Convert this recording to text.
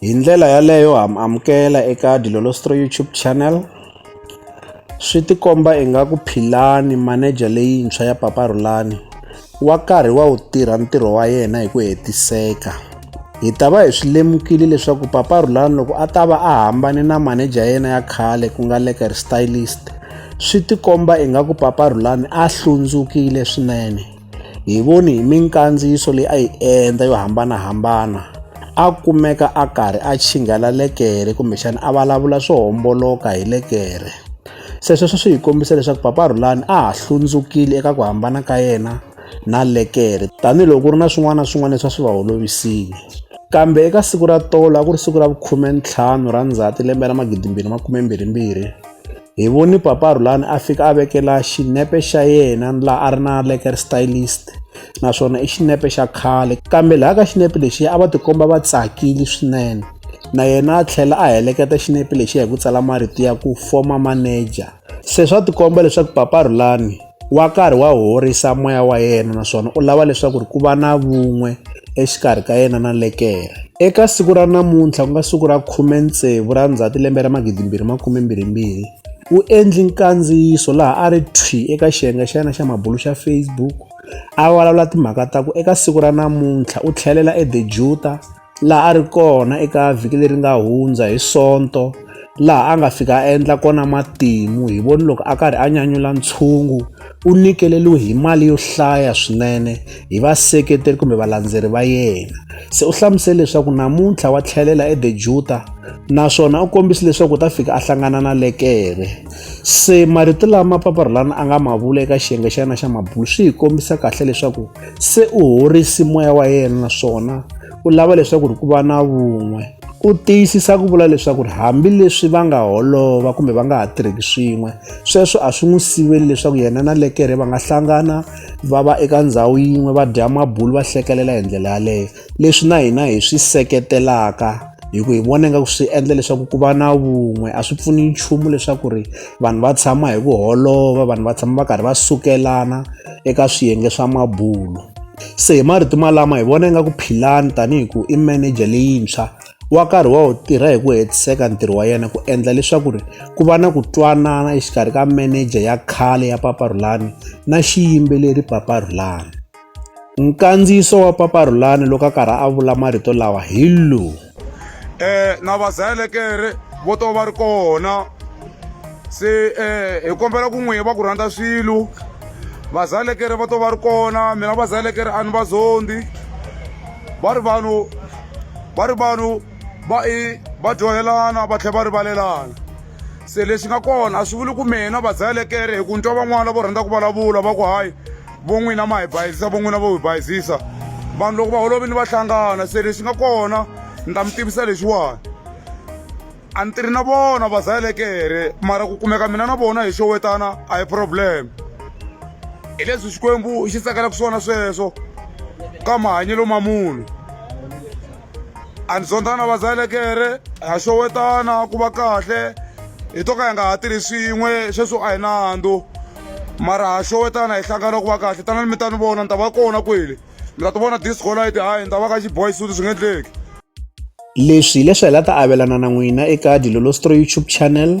hi ndlela yaleyo ha mi amukela eka Dilolostro YouTube channel swi tikomba ingaku Philani manager leyintshwa ya Papa Rhulani wa karhi wa wu tirha ntirho wa yena hi ku hetiseka hi ta va hi swi lemukile leswaku Papa Rhulani loko a ta va a hambane na manager yena ya khale ku nga Lekker Stylist swi tikomba ingaku Papa Rhulani a hlundzukile swinene hi voni hi minkandziyiso leyi a yi endla yo hambanahambana a kumeka a karhi a chinghala lekere kumbexana a vulavula swo homboloka hi lekere se sweswo swi hi kombisa leswaku papa Rhulani a ha hlundzukile eka ku hambana ka yena na lekere tanihiloko ku ri na swin'wana na swin'wana leswi a swi va holovisile kambe eka siku ra tolo a ku ri siku ra vukhume ntlhanu ra ndzhati lembe ra magidimbirhi makume mbirhi mbirhi hi voni papa rhulani a fika a vekela xinepe xa yena laha a ri na leker stylist naswona i xinepe xa khale kambe laha ka xinepe lexi a va tikomba va tsakile swinene na yena a tlhela a heleketa xinepe lexi hi ku tsala marito ya ku former manager se swa tikomba leswaku papa rhulani wa karhi wa horisa moya wa yena naswona u lava leswaku ri ku va na vun'we exikarhi ka yena na lekere eka siku ra namuntlha ku nga siku ra 16 ra ndzhati lembe ra 2022 u endli nkandziyiso laha a ri thwi eka xiyenge xa yena xa mabulu xa facebook a vulavula timhaka ta ku eka siku ra namuntlha u tlhelela edejuta laha a ri kona eka vhiki leri nga hundza hi sonto laha a nga fika a endla kona matimu hi voni loko a karhi a nyanyula ntshungu u nyikeleriwe hi mali yo hlaya swinene hi vaseketeri kumbe valandzeri va yena se u hlamusele leswaku namuntlha wa tlhelela edejuta naswona u kombise leswaku u ta fika a hlangana na lekere se marito lama paparhulana a nga ma vula eka xiyenge xa yena xa mabulu swi hi kombisa kahle leswaku se u horisi moya wa yena naswona u lava leswaku ri ku va na vun'we u tiyisisa ku vula leswaku ri hambileswi va nga holova kumbe va nga ha tirheki swin'we sweswo a swi n'wi siveli leswaku yena na lekere va nga hlangana va va eka ndhawu yin'we va dya mabulu va hlekelela hi ndlela yaleyo leswi na hina hi swi seketelaka hi ku hi vona ingaku swi endla leswaku ku va na vun'we a swi pfuni nchumu leswaku ri vanhu va tshama hi ku holova vanhu va tshama va karhi va sukelana eka swiyenge swa mabulo se hi marito malama hi vona ingaku philani tanihi ku i manager leyintshwa wa karhi wa wu tirha hi ku hetiseka ntirho wa yena ku endla leswaku ri ku va na ku twanana exikarhi ka meneja ya khale ya paparhulani na xiyimbeleri paparhulani Nkandziyiso wa Papa Rhulani loko a karhi a vula marito lawa hi lowu. Eh na vazelekere vo to va ri kona se eh hi kombela ku n'wi va ku rhandza swilo vazalekere va to va ri kona mina vazalekere a ni va zondi va ri vanhu va ri vanhu va i va dyohelana va tlhela va rivalelana se lexi nga kona a swi vuli ku mina vazalekere hi ku ni twa van'wana vo rhandza ku vulavula va ku hayi vo n'wina ma hi bayizisa vo n'wina vo hi bayizisa vanhu loko va holovini va hlangana se lexi nga kona ni ta mi tivisa lexiwani a ni tirhi na vona va zayelekere mara ku kumeka mina na vona hi xowetana a hi problem hi leswi xikwembu xi tsakelaka swona sweswo ka mahanyelo ma munhu a ni zondzana vazalekere ha xowetana ku va kahle hi to ka hi nga ha tirhi swin'we sweswo a hi nandzu mara ha xowetana hi hlangana ku va kahle tanani mi ta ni vona ni ta va kona kwele mi ta ti vona discolight hayi ni ta va ka xiboy suti swi nga endleki leswi hileswi hi la ta avelana na n'wina eka dilolostro youtube channel